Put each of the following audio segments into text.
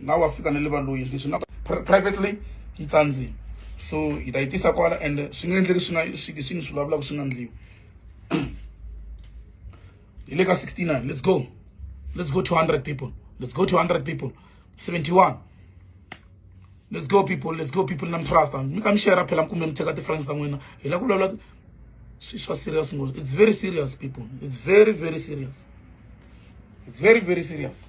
na wa fika na le valoyi leswi nga privately yi tsandzile so hi ta yi tisa kwala and swi nga endleki swi nga swi swi ni swi vulavulaka swi nga ndliwi hi le ka 69 let's go let's go 200 people let's go 200 people 71 let's go people let's go people na mi trust mi ka mi share phela mi kumbe mi cheka ti-friends ta n'wina hi la ku vulavula swi swa serious ngopfu it's very serious people it's very very serious it's very very serious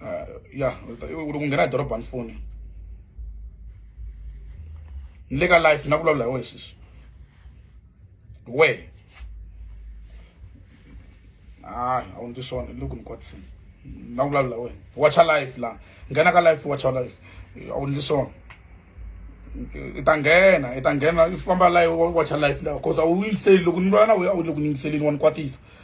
Ah, ya loko nghena dorobha ni foni ni le ka life na vulavula hi wena sisi we hayi a wu ndzi swona loko ni kwatisini na vulavula wena watcha life la nghena ka life watcha life a wu ndzi swona i ta nghena i ta nghena i famba life watcha life la cause a wu yingiseli loko ni vula na wena a wu le ku yingiseleni wa ni kwatisa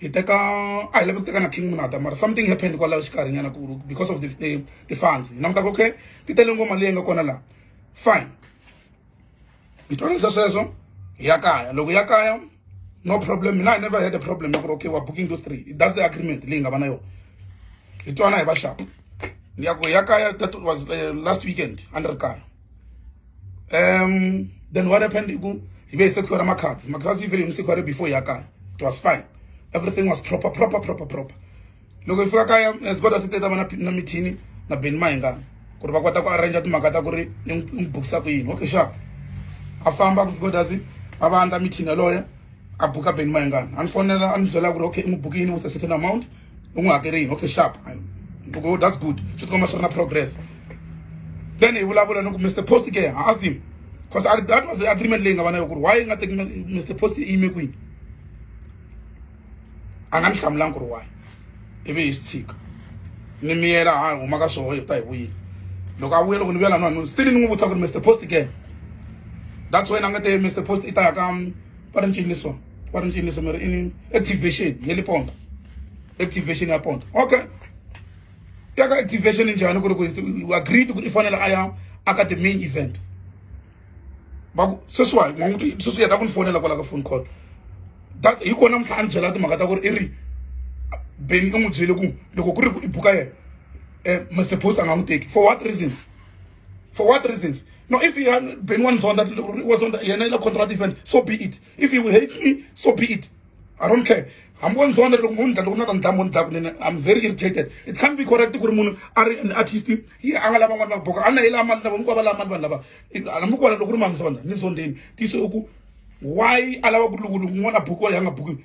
hi teka a hi lava ku teka na king munata mara something happened kwalaho xikarhi nyana ku because of the the, the funds na mutaka okay ti tele ngoma leyi nga kona la fine hi twanisa sweswo hi ya kaya loko ya kaya no problem mina i never had a problem ya ku ri okay wa booking those three that's the agreement leyi nga va na yona hi twana hi va xapa ya ku ya kaya that was uh, last weekend a ni ri kaya um then what happened iku hi ve hi se khwera makhadzi makhadzi yi fele ni se khwere before ya kaya it was fine everything was proper proper proper proper loko hi fika kaya zikoda eh, se teta vana na mithini na beni mahingana ku ri va kota ku arrangea timhaka ta ku ri ni n'wi bukisa ku yini okay sharp a famba ku zikoda se a va andla mithini yaloye a buka beni mahingana a ni fonela a ni byela ku ri okay i n'wi bukini with a certain amount u n'wi hakele yini okay sharp oh, that's good swi tikomba swi ri na progress then hi vulavula ni ku mr post ke ha asked him because that was the agreement leyi nga va na yo ku ri why nga teki mr post i yime kwihi a nga ni hlamulangi ku ri why ivi hi swi tshika ni miyela ha huma ka swoho hi ta hi vuyile loko a vuye loko ni vuyela nwana still ni n'wi vutisa ku ri mr post again that's why na nga te mr post i ta ya ka va ri ncini ni swona va ri cinisa mara i activation ya le ponto activation ya ponto okay ya ka activation njhani ku ri ku u agreed ku ri i fanele a ya aka the main event va ku sweswiwani n'wan'witi sweswi yeta ku ni fonela kwala ka phone call that hi kona mhla a ni byela timhaka ta ku ri i ri beni i n'wi byele ku loko ku ri ku i buka yena um mr post a nga n'wi teki for what reasons for what reasons no if beni wa ni zonda was on yena i la contract event so be it if you hate me so be it i don't care hambi wo ndzi vona loko munhu loko na ta ndlamu ni dlaku nene i'm very irritated it can't be correct ku ri munhu a ri an artist yi a nga lava n'wana va boka a na hi lava mali lava hinkwavo va lava mali vanhu lava hambi ku vona loko ri mamzonda ni zondeni tiso i ku why a lava ku lukuluku n'wana a bukiwa yi a nga bukiwi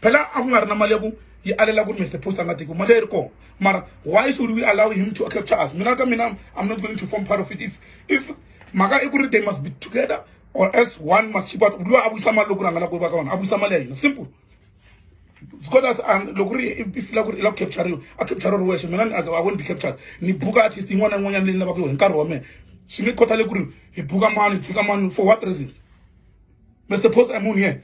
phela a ku nga ri na mali ya ku yi alela ku ri mr post a nga teki mali ya ri kona mara why should we allow him to capture us mina ka mina i'm not going to form part of it if if mhaka i ku ri they must be together or else one must chip out loyi a vuyisa mali loko ri a nga la ku va ka wona a vuyisa mali ya hina simple because um, loko ri i fila ku ri i la ku capturiwa a capture ri wexe mina i won't be captured ni buka artist yin'wana na yin'wanyana leyi ni lavaka yo hi nkarhi wa mina swi nge khothale ku ri hi buka mani hi tshika mani for what reasons mr post i'm on here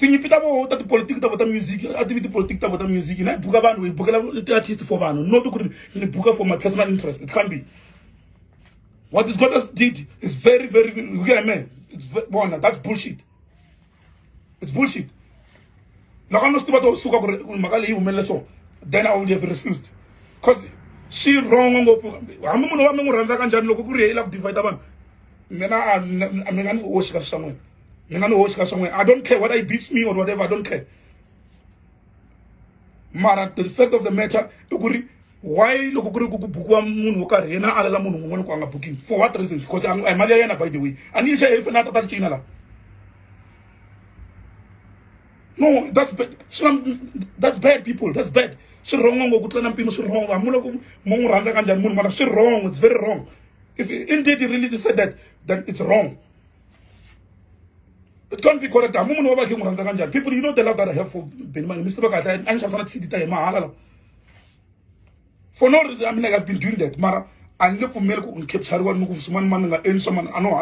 tinyipi ta voho ta tipolitiki ta vo ta music a tivi tipolitiki ta vo ta music na yi buka vanhu hi bukela ti-artist for vanhu not ku ri ni buka for my personal interest kambe what is gotas did is very very you get me bona that's bullshit it's bullshit loko a no swi tiva to suka ku ri mhaka leyi humelele so then i would have refused because swi wrong ngopfu hambi munhu wa mi n'wi rhandza ka njhani loko ku ri yeyila ku divide vanhu mina a mi nga ni oxi ka swi swa n'wina ni nga ni hoxi ka swin'wana i don't care whether he beats me or whatever i don't care mara the fact of the matter i ku ri why loko ku ri ku ku bukiwa munhu wo karhi yena a alela munhu un'wana ku a nga bukini for what reasons because a hi mali ya yena by the way a ni yise if na tata ticina laha no that's bad swi na that's bad people that's bad swi wrong ngo ku tlula na mpimo swi wrong hamu loko mo n'wi rhandza ka njhani munhu mara swi wrong it's very wrong if indeed you really said that then it's wrong it can't be correct hamu munhu wa vakhe n'wi rhandza ka njhani people you know the love that i have for benimani mi swi tiva kahle a ni xavisana ti-cd ta hi mahala lawa for no reason i mean like i've been doing that mara a ni nge pfumeli ku ni capturiwa ni ku swin'wana mani ni nga endli swa mani a no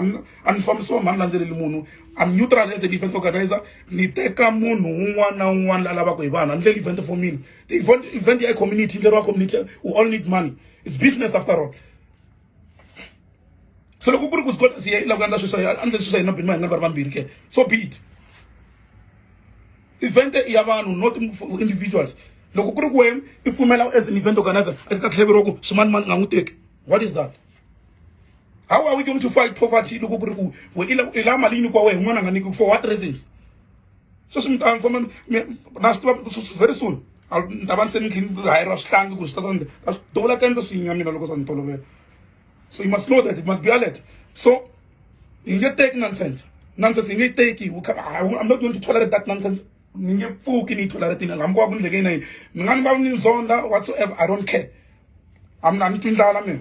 a ni fambisiwa mani landzeleli munhu i'm neutral as an event organizer ni teka munhu un'wana na un'wana la lavaka hi vanhu a ni ndleli event for mina the event ya community ndleriwa community we all need money it's business after all so loko ku ri ku zikota si yi lava ku endla sweswo a ndle sweswo hina bini ma hi nga ri va ri vambirhi ke so be it event i ya vanhu not individuals loko ku ri ku wena i pfumela as an event organizer a ti ta tlheveriwa ku swimani mani nga n'wi teki what is that how are we going to fight poverty loko ku ri ku we i la mali yi nyikiwa wehe n'wana nga nyikiwi for what reasons sweswi mi ta famba na swi tiva very soon ni ta va ni se ni tlhini hayeriwa swihlangi ku swi ta sande ka swi dovula ta endla swinya mina loko swa ni tolovela so you must know that it must be alert so yi nge teki nonsense nonsense yi nge yi teki i'm not going to tolerate that nonsense ni nge pfuki ni yi toleratini hambi ko va ku ni ndlekeni na yini mi nga ni va ni zonda whatsoever i don't care a mi na ni twi ndlala mina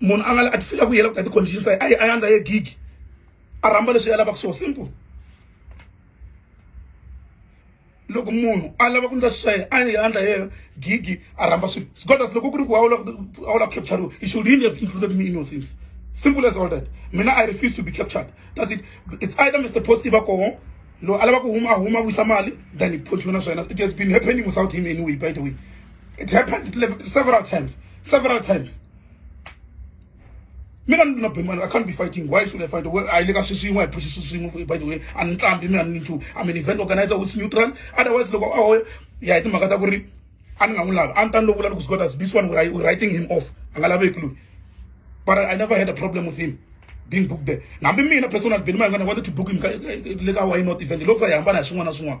munhu a nga a ti fila ku yela ku ta ti-conditions ta ye a ye a yandza ye gigi a rhamba leswi ya lavaka swona simple loko munhu a lava ku ndla swiswaye a yandla ye gigi a rhamba swilo sgodas loko ku ri ku a wu la a wu la ku capturiwa you should really have included me in your things simple as all that mina i refuse to be captured that's it it's either mr post iva koho loyi a lava ku huma a huma a vuyisa mali than hi photshona swa yena it has been happening without him anyway by the way it happened several times several times mina ni not bemani i can't be fighting why should i fight well i le ka swi swin'we hi phuxi swi swin'we by the way a ni tlambi mina ni nchumu i'm an event organizer who's neutral otherwise loko a hoya ya hi timhaka ta ku ri a ni nga n'wi lavi a ni ta ni lo vula ni ku swi kota this one we're writing him off a nga laveki loyi but i never had a problem with him being booked there hambi mina personal beni ma hi nga ni wanted to book him le ka why not event loko hi hambana hi swin'wana na swin'wana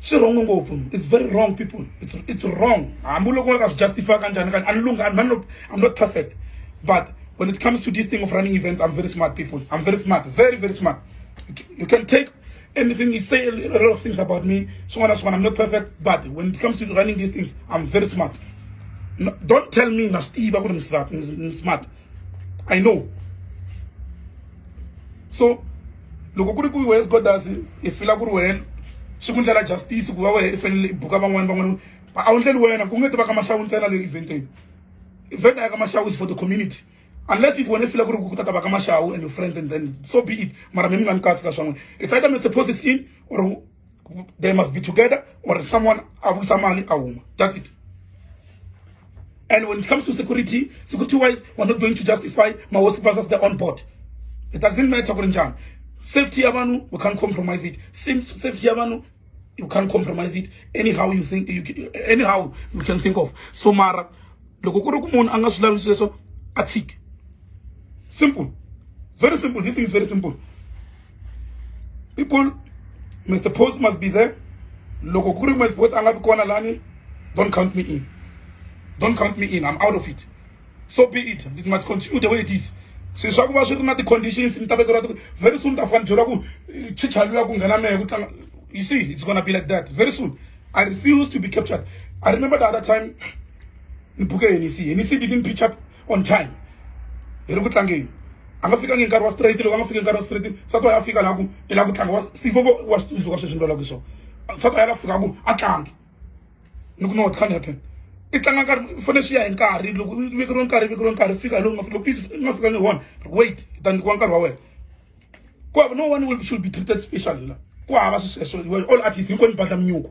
swi wrong ngopfu it's very wrong people it's, it's wrong hambi loko nga swi justify kanjhani kanjhani ani lunghani mani loko i'm not perfect but when it comes to this thing of running events i'm very smart people i'm very smart very very smart you can take anything you say a lot of things about me swin'wana swin'wana i'm not perfect but when it comes to running these things i'm very smart no, don't tell me na swi tiva ku ri ni smart I know. So loko ku ri ku wes godas i fila ku ri wena swi ku ndlela justice ku va wena i fanele i buka van'wana van'wana a wu ndleli wena ku nge ti va ka mashawu ntsena leyi event leyi event a ya ka mashawu is for the community unless if wena i fila ku ri ku ta ta va ka mashawu and your friends and then so be it mara mi mi nga ni katsi ka swa n'wina it's either mr post is in or they must be together or someone abusa mali awuma that's it and when it comes to security security wise we're not going to justify mahosi versus the on board it doesn't matter kuri njani safety ya vanhu we can't compromise it Sim- safety ya vanhu you can't compromise it anyhow you think you, ca- anyhow you can think of so mara loko ku ri ku munhu a nga swi lavi sweswo a tshike simple very simple this thing is very simple people mr post must be there loko ku ri mr post a nga vi kona lani don't count me in don't count me in i'm out of it so be it it must continue the way it is swi swa ku va swi ri na ti-conditions ni ta vekeriwa ti very soon ta fana byeriwa ku eh, chichaliwa ku nghena mehe ku tlanga you see it's gonna be like that very soon i refuse to be captured i remember the other time ni buke henisi henisi didn't pitch up on time hi ri ku tlangeni a nga fikangi nkarhi wa straight loko a nga fiki nkarhi wa straight sa to ya fika laha ku i lava ku tlanga wa steve wa swi tsundzuka sweswi ni lava ku swona sa to ya lava fika ku a tlangi ni ku no what can happen i tlanga nkarhi fane swi ya hi nkarhi loko viki ro nkarhi viki ro nkarhi fika loko loko nga fika ni wona wait i ta nyikiwa nkarhi wa wena ku hava no one will should be treated special la ku hava sweswo all artist hinkwenu badla minyuku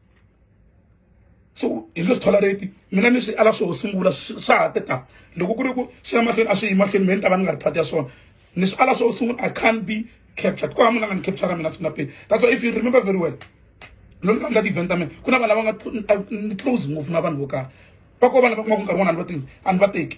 so hi nge swi tolerate mina ni swi ala swo sungula swa ha teta loko ku ri ku swi ya mahlweni a swi yi mahlweni me ni ta va ni nga ri phati ya swona ni swi ala swo sungula i can't be captured ku hava munhu a nga ni capture mina siku na peni that's why if you remember very well loko ni kha ni la ti-event ta mina ku na vanhu lava nga ni close ngopfu na vanhu vo karhi va ko vanhu va kuma ku nkarhi wun'wana a ni va tivi a ni va teki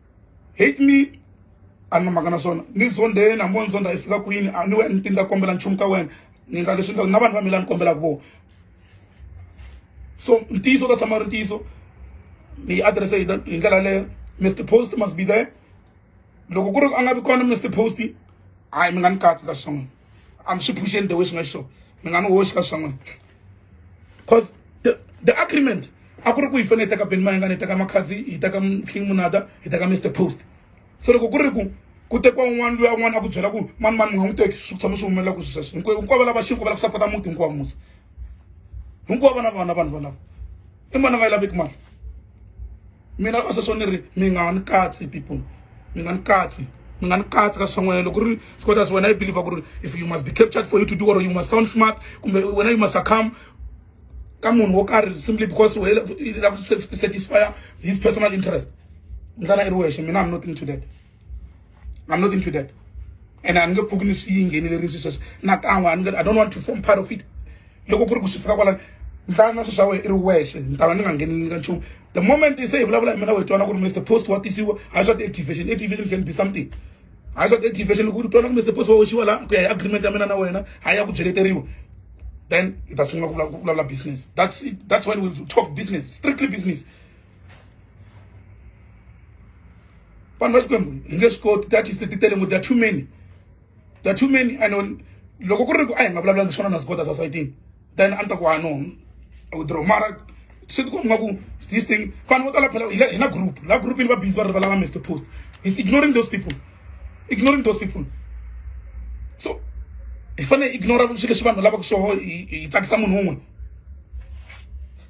hit me a ni na mhaka na swona ni zondzeni hambi wo ni zondza yi fika kwini a ni we ni tindza kombela nchumu ka wena ni endla leswi na vanhu va mina ni kombelaka vona so ntiyiso ta tshama ri ntiyiso mi yi adirese hi hi ndlela yaleyo mr post must be there loko ku ri a nga vi kona mr post hayi mi nga ni katsi ka swin'wana a mi swi phuxeni the way swi nga xiswona mi nga ni hoxi ka swa n'wina cause the, the agreement a ku ri ku hi fanele hi teka beni mayengana hi teka makhadzi hi teka king munada hi teka mr post so loko ku ri ku ku tekiwa un'wana luya un'wana a ku byela ku mani mani mi nga n'wi teki swi tshama swi humelela ku swi sweswo hinkwayo hinkwavo lava xinko va lava sapota muti hinkwawo musa hinkwavo vana vana vanhu valava i mani a nga yi laveki mali mina ka sweswo ni ri mi nga ni katsi people mi nga ni katsi mi nga ni katsi ka swan'wanyana loko ri sikotas wena i believer ku ri if you must be captured for you to do or you must sound smart kumbe wena you must succumb ka munhu wo karhi simply because u lava ku satisfy his personal interest ndlana i ri wexe mina am nothing to that I'm not into that. And I'm not going to see you in any sisters. Not I want I don't want to form part of it. Loko kuri kusifika kwala ndana sasa we iri wese ndana ninga ngeni nga chum. The moment they say blah blah mina we twana kuri Mr. Post what is you? I shot activation. Activation can be something. I shot activation kuri twana kuri Mr. Post wa ushiwa la ku agreement mina na wena haya kujeleteriwa. Then itasunga kula kula business. That's it. That's when we talk business. Strictly business. vanhu va xikwembu hi nge swi koti that is ti tele ngo they're too many they're too many and loko ku ri ku a hi nga vulavulanga swona na zikota swa sayitini then a ni ta ku hano withdraw mara swi tikomba nga ku this thing vanhu vo tala phela hi na group la group ni va busy va rivalanga mr post is ignoring those people ignoring those people so hi fanele ignora swilo leswi vanhu lavaka swoho hi tsakisa munhu un'we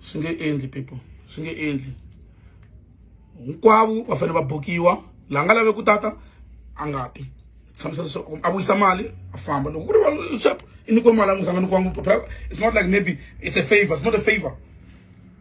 swi nge endli people swi nge endli hinkwavo va fanele va bukiwa laha nga lave ku tata a nga ti tshamisa leswaku a vuyisa mali a famba loko ku ri valshap i nyikiwe mali a n'wi sanga nyikiwangi it's not like maybe it's a favor it's not a favor